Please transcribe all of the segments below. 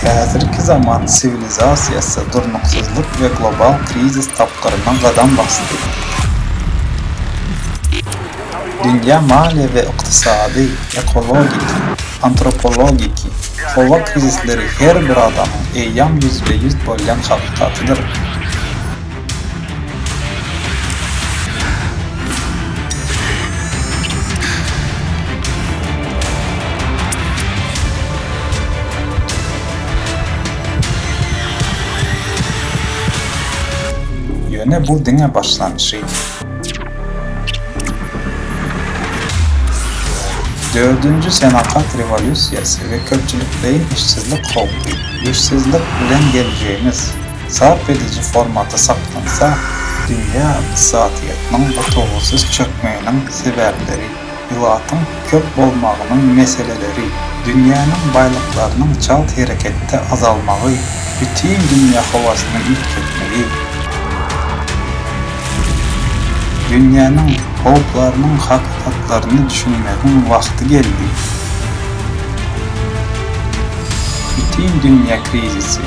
Häzirki zaman siwilizasiýasy durnuksyzlyk we global krizis tapgyryna gadam basdy. dünýä maliýe we ykdysady, ekologik, antropologiki, howa krizisleri her bir adamyň eýýam ýüzbe-ýüz bolýan hakykatydyr. Ýöne bu diňe başlanşy. Dördünji senagat rewolýusiýasy we köpçülikleýin işsizlik howpy, işsizlik bilen geljegimiz, sarp ediji formaty saklansa, dünýä ykdysadyýetiniň gutulgysyz çökmeginiň sebäpleri, Ilatyň köp bolmagynyň meseleleri, dünýäniň baýlyklarynyň çalt hereketde azalmagy, bütin dünýä howasyny üýtgetmegi, dünýäniň howplarynyň hakykatlaryny düşünmegiň wagty geldi. Bütin dünýä krizisi.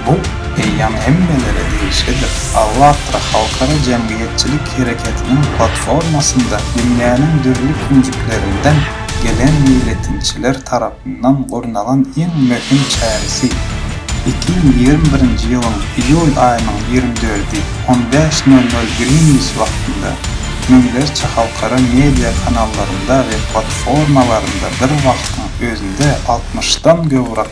Bu eýýam hemmelere degişlidir. Allatra halkara jemgyýetçilik hereketiniň platformasynda dünýäniň dürli künjeklerinden gelen meýletinçiler tarapyndan gurnalan iň möhüm çäresi, iki ýüz ýigrimi birinji ýylyň iýul aýynyň ýigrimi dördi, on bäş nol nol Greenwich wagtynda müňlerçe halkara media kanallarynda we platformalarynda bir wagtyň özünde altmyşdan gowrak